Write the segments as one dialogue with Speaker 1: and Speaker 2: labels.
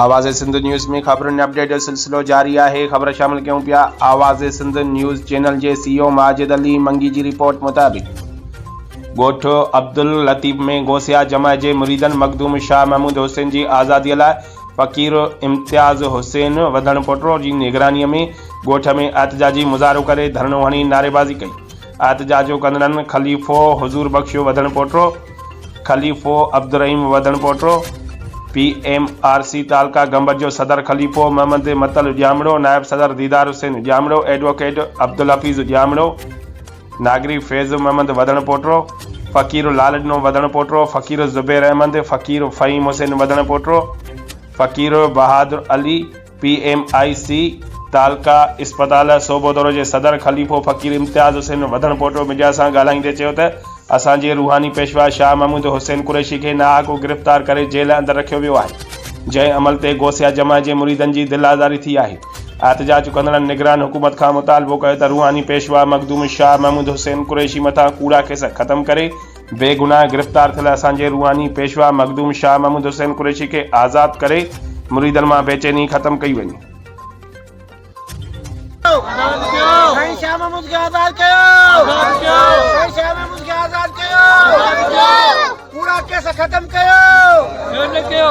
Speaker 1: آواز سنڌ نيوز ۾ خبرن ۽ اپڊيٽ جو سلسلو جاري آهي خبر شامل ڪيون پيا آواز سنڌ نيوز چينل جي سي او ماجد علي منگي جي رپورٽ مطابق ڳوٺ عبداللطيف ۾ غوثيا جمع جي مريدن مخدوم شاهه محمود حسين جي آزادي لاء فقير امتياز حسين وڌڻ پوٽرو جي نگراني ۾ ڳوٺ ۾ احتجاجي مظاهرو ڪري ڌرڻو هڻي نعريبازي ڪئي احتجاجون ڪندڙن خليفو حضور بخشيو وڌڻ پوٽرو، خليفو عبدالرحيم وڌڻ Potro, P M R C تعلقه گمبٽ جو صدر خليفو محمد متل ڄامڙو، نائب صدر ديدار حسين ڄامڙو، ايڊووڪيٽ عبدالحفيظ ڄامڙو، ناگري فيض محمد وڌڻ پوٽرو، فقير لالڏنو وڌڻ پوٽرو، فقير زبير احمد، فقير فهيم حسين وڌڻ پوٽرو، فقير Bahadur Ali, P M I C تعلقه اسپتال صوبو دورو جي صدر خليفو فقير امتياز حسين وڌڻپوٽو ميڊيا سان ڳالهائيندي چيو ته اسان جي روحاني پيشوا شاهه محمود حسين قريشي کي ناحق گرفتار ڪري جيل اندر رکيو ويو آهي جنهن عمل تي غوثيه جمع جي مريدن جي دل آزاري ٿي آهي احتجاج ڪندڙن نگران حڪومت کان مطالبو ڪيو ته روحاني پيشوا مخدوم شاهه محمود حسين قريشي مٿان ڪوڙا ڪيس ختم ڪري بي گناهه گرفتار ٿيل اسان جي روحاني پيشوا مخدوم شاهه محمود حسين قريشي کي آزاد ڪري مريدن مان بيچيني ختم ڪئي وڃي.
Speaker 2: سائين شاهه محمود کي آزاد ڪيو آزاد ڪيو سائين شاهه محمود کي آزاد ڪيو آزاد ڪيو پورا ڪيس ختم ڪيو ڪيو نه ڪيو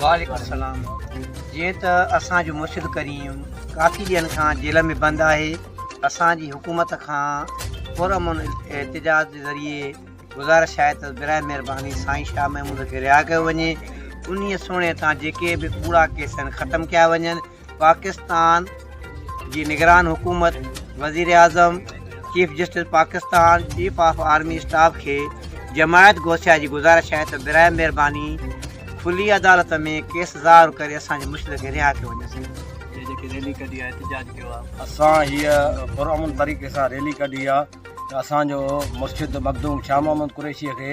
Speaker 2: وعليڪم السلام جيئن ته اسان جو مرشد ڪريم ڪافي ڏينهن کان جيل ۾ بند آهي اسان جي حڪومت کان پر امن احتجاج جي ذريعي گزارش آهي ته برائي مهرباني سائين شاهه محمود کي رهائي ڪيو وڃي انهي سوڻي تان جيڪي به ڪوڙا ڪيس آهن ختم ڪيا وڃن پاڪستان جي نگران حڪومت، وزيراعظم، chief justice Pakistan, chief of army staff کي جماعت گوسيا جي گذارش آهي ته براهه مهرباني کلي عدالت ۾ ڪيس ظاهر ڪري اسان جي مشرق کي رها ڪيو وڃي.
Speaker 3: اسان هيء پرامن طريقي سان ريلي ڪڍي آهي ته اسان جو مرشد مخدوم شاهه محمد قريشيء کي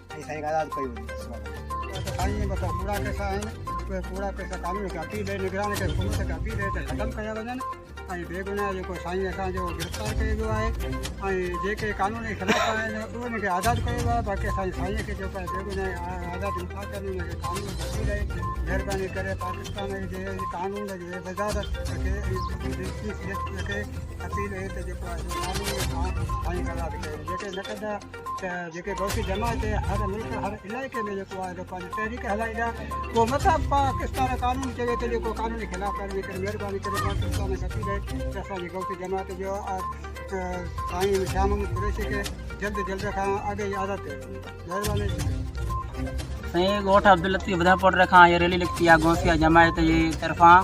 Speaker 2: سائين کان آزاد ڪيو وڃي سائين مطلب ڪوڙا
Speaker 4: پيسا آهن اهي ڪوڙا پيسا قانون کي اپيل ڏئي نگران کي حڪومت کي اپيل ڏئي ته ختم ڪيا وڃن ۽ بي گناهه جيڪو سائين اسانجو گرفتار ڪيو ويو آهي ۽ جيڪي قانون جي خلاف آهن انهن کي آزاد ڪيو ويو آهي باقي اسان سائين کي جيڪو بي گناهه آزاد انصاف ڪري انهن کي قانون بچي رهي مهرباني ڪري پاڪستان جي قانون جي وزارت کي اپيل اهي ته جيڪو آزاد ڪيو وڃي جيڪي نه ڪندا ته جيڪي غوثي جماعت هر ملڪ هر علائقي ۾ جيڪو آهي پنهنجي تحريڪ هلائي ڏيا پوء مٿا پاڪستان قانون چوي ته جيڪو قانوني خلاف ورزي ڪري مهرباني ڪري پاڪستان ۾ اچي رهي ته اسانجي غوثي جماعت جو سائين شام محمد قريشي کي جلد جلد کان اڳ ئي آزاد ڪيو وڃي مهرباني سائين ڳوٺ
Speaker 5: عبداللطيف بدهه پوٽر کان هيء ريلي نڪتي آهي غوثيه جماعت جي طرفان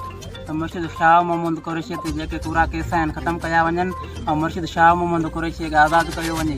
Speaker 5: ته مرشد شاهه محمد قريشيء تي جيڪي ڪوڙا ڪيس آهن ختم ڪيا وڃن ۽ مرشد شاهه محمد قريشيء کي آزاد ڪيو وڃي.